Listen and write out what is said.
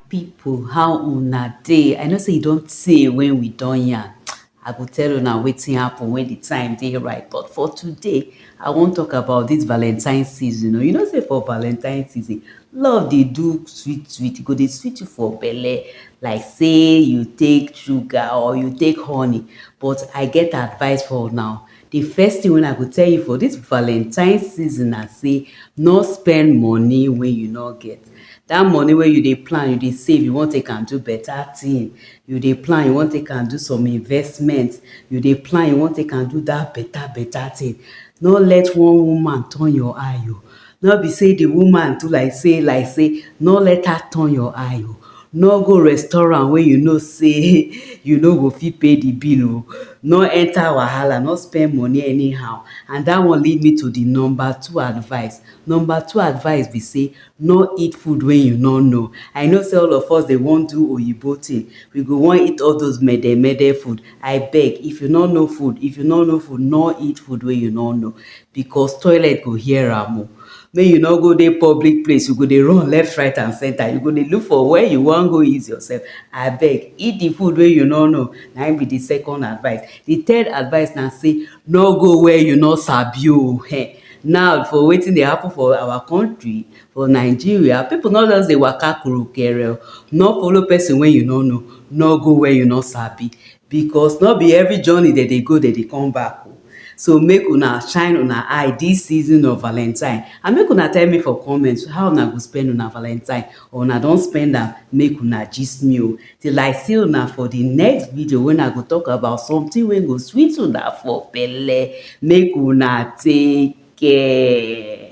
people how una dey i know say e don tey when we don yarn i go tell una wetin happen when the time dey right but for today i wan talk about this valentine season o you know say for valentine season love dey do sweet sweet e go dey sweet you for belle like say you take sugar or you take honey but i get advice for una o The first thing wey I go tell you for this valentine season na say no spend money wey you no get. That money wey you dey plan, you dey save, you wan take am do better thing, you dey plan, you wan take am do some investment, you dey plan, you wan take am do that better better thing, no let one woman turn your eye oh. Nor be sey di woman do like sey like sey, nor let her turn your eye o, nor go restaurant wey you know sey you no go fit pay di bill o, nor enter wahala, nor spend money anyhow and dat one lead me to di number two advice. Number two advice be sey, nor eat food wey you nor know. I know sey all of us dey wan do oyibo tin, we go wan eat all dose mede mede food, I beg if you nor know food, if you nor know food, nor eat food wey you nor know. because toilet go hear am o make you no go dey public place you go dey run left right and center you go dey look for where you wan go ease yourself abeg eat the food wey you no know na him be the second advice the third advice na say no go where you no sabi o um now for wetin dey happen for our country for Nigeria people no just dey waka kurukere o no follow person wey you no know no go where you no sabi Because no be every journey dem dey go dem dey come back o so make una shine una eye this season of valentine and make una tell me for comment how una go spend una valentine or una don spend am make una gist me o till I see una for the next video when I go talk about something wey go sweet una for belle make una take care.